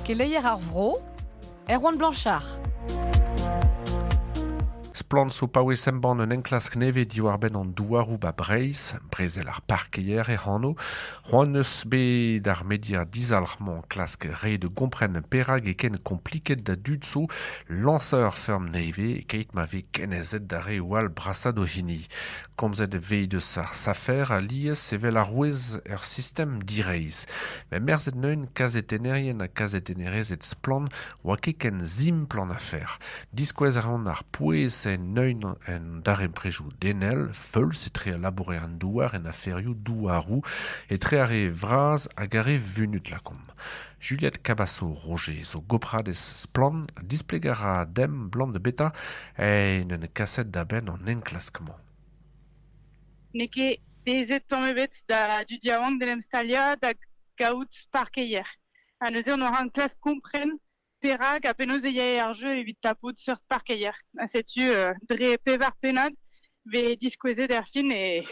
Keleier ar vro, Erwan Blanchard. Splann zo paouez embann un enklask nevez diwar-benn an douaroù ba Breizh, brezel ar parkeier e hano. C'hoant eus bet ar media dizalc'h-mañ klask re de gompren perak e ken kompliket da dud zo lañser ferm nevez keit ma vez kenezet da re o al brassad o hini. Komzet e vez eus ar safer alies evel arouez er sistem direizh met merzet neuint kazetennerien ha kazetennerezed splann oa ket ken simpl an afer. Diskouez a raont ar pouez en neuint en darempredoù denel feuls etre al labourer en douar en aferioù douaroù etre ar re vras hag ar re vunut lakaomp. Juliette Cavasso-Roger zo gopradez Splann! Displeg a ra demp 'blam da betra en un kaset da benn an enklask-mañ. N'eo ket bezet tamm ebet da dud yaouank d'en em staliañ da gaout parkeier. Ha neuze hon oa enklask kompren Perak ha penaos e yae ar jeu evit tapout seurt parkeier? Ha setu euh, dre pevar pennad vez diskouezet erfin e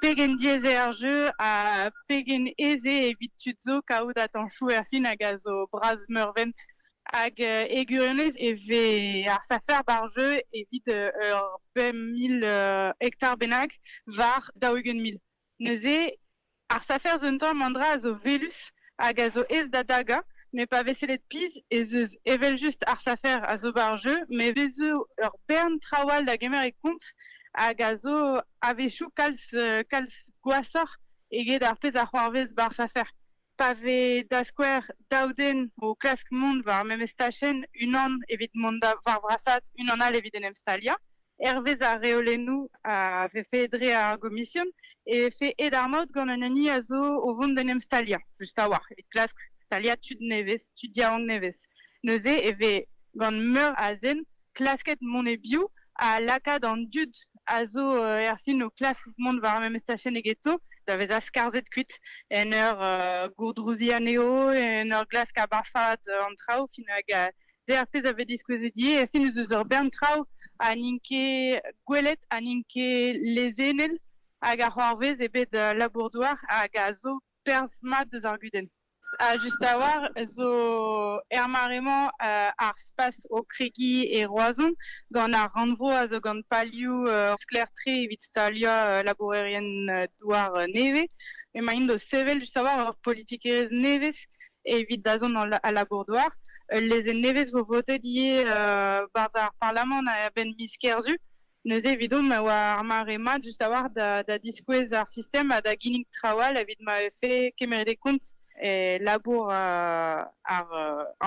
pegen diaes eo ar jeu ha pegen aes eo evit tud zo kaout atañchoù erfin hag a zo bras meurvent. Hag euh, e gwirionez e vez ar safer ba'r jeu evit euh, ur bemp mil euh, hektar bennak war daou-ugent mil. Neuze, ar safer zo un tamm an dra a zo welus hag a zo aes da dagañ, met pa vez sellet pizh ez eus evel-just ar safer a zo war jeu, met e vez zo ur bern traoù all da gemer e kont hag a zo a-wechoù kalz kalz gwashoc'h eget ar pezh a c'hoarvez ba'r safer. pa vez da skouer daou den o klask mont war memes tachenn, unan evit mont da war vrasaat, unan all evit en em staliañ, hervez ar reolennoù a vefe dre ar gomision, e vefe aet ar maout gant un hini a zo o vont d'en em staliañ, just a-walc'h, evit klask staliañ tud nevez, tud yaouank nevez. Neuze e vez gant meur a zen klasket mont e-biou ha lakaat an dud a zo erfin o klask mont war ar memes tachenn egeto da vezañ skarzhet kuit en ur gourdrouziñ anezho, en ur glask abarfaat an traoù fin hag se ar pezh a vez diskouezet ivez erfin ez eus ur bern traoù ha n'int ket gwelet ha n'int ket lezennel hag a c'hoarvez e bed labour-douar hag a zo perzh mat deus ar gudenn. Just a-walc'h zo er mare-mañ ar spas o kregiñ e Roazhon gant ar rannvro a zo gant palioù sklaer-tre evit staliañ labourerien-douar nevez. Emaint o sevel just a-walc'h ur politikerezh nevez evit dazont al labour-douar. Ul lezenn nevez vo votet ivez barzh ar parlamant a-benn miz Kerzu. Neuze evidomp e oa ar mare-mañ just a-walc'h da diskouez ar sistem ha da ginnig traoù all evit ma vefe kemeret e kont e labour ar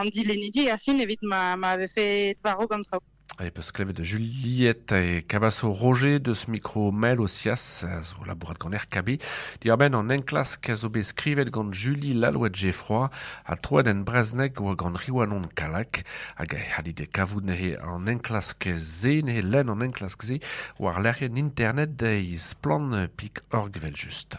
an dilennidi er fin evit ma vefe varv an traoù. E peus klevet Juliette e Cabasso Roger deus mikro Mel Osias a zo labourat gant RKB. Diwar-benn an enklask a zo bet skrivet gant Julie Lalouette Geffroy Ha troet en brezhoneg war gant Riwanon Kallag hag e c'hallit kavout neuze an enklask-se, neuze lenn an enklask-se war lec'hienn internet deiz splann.org evel-just.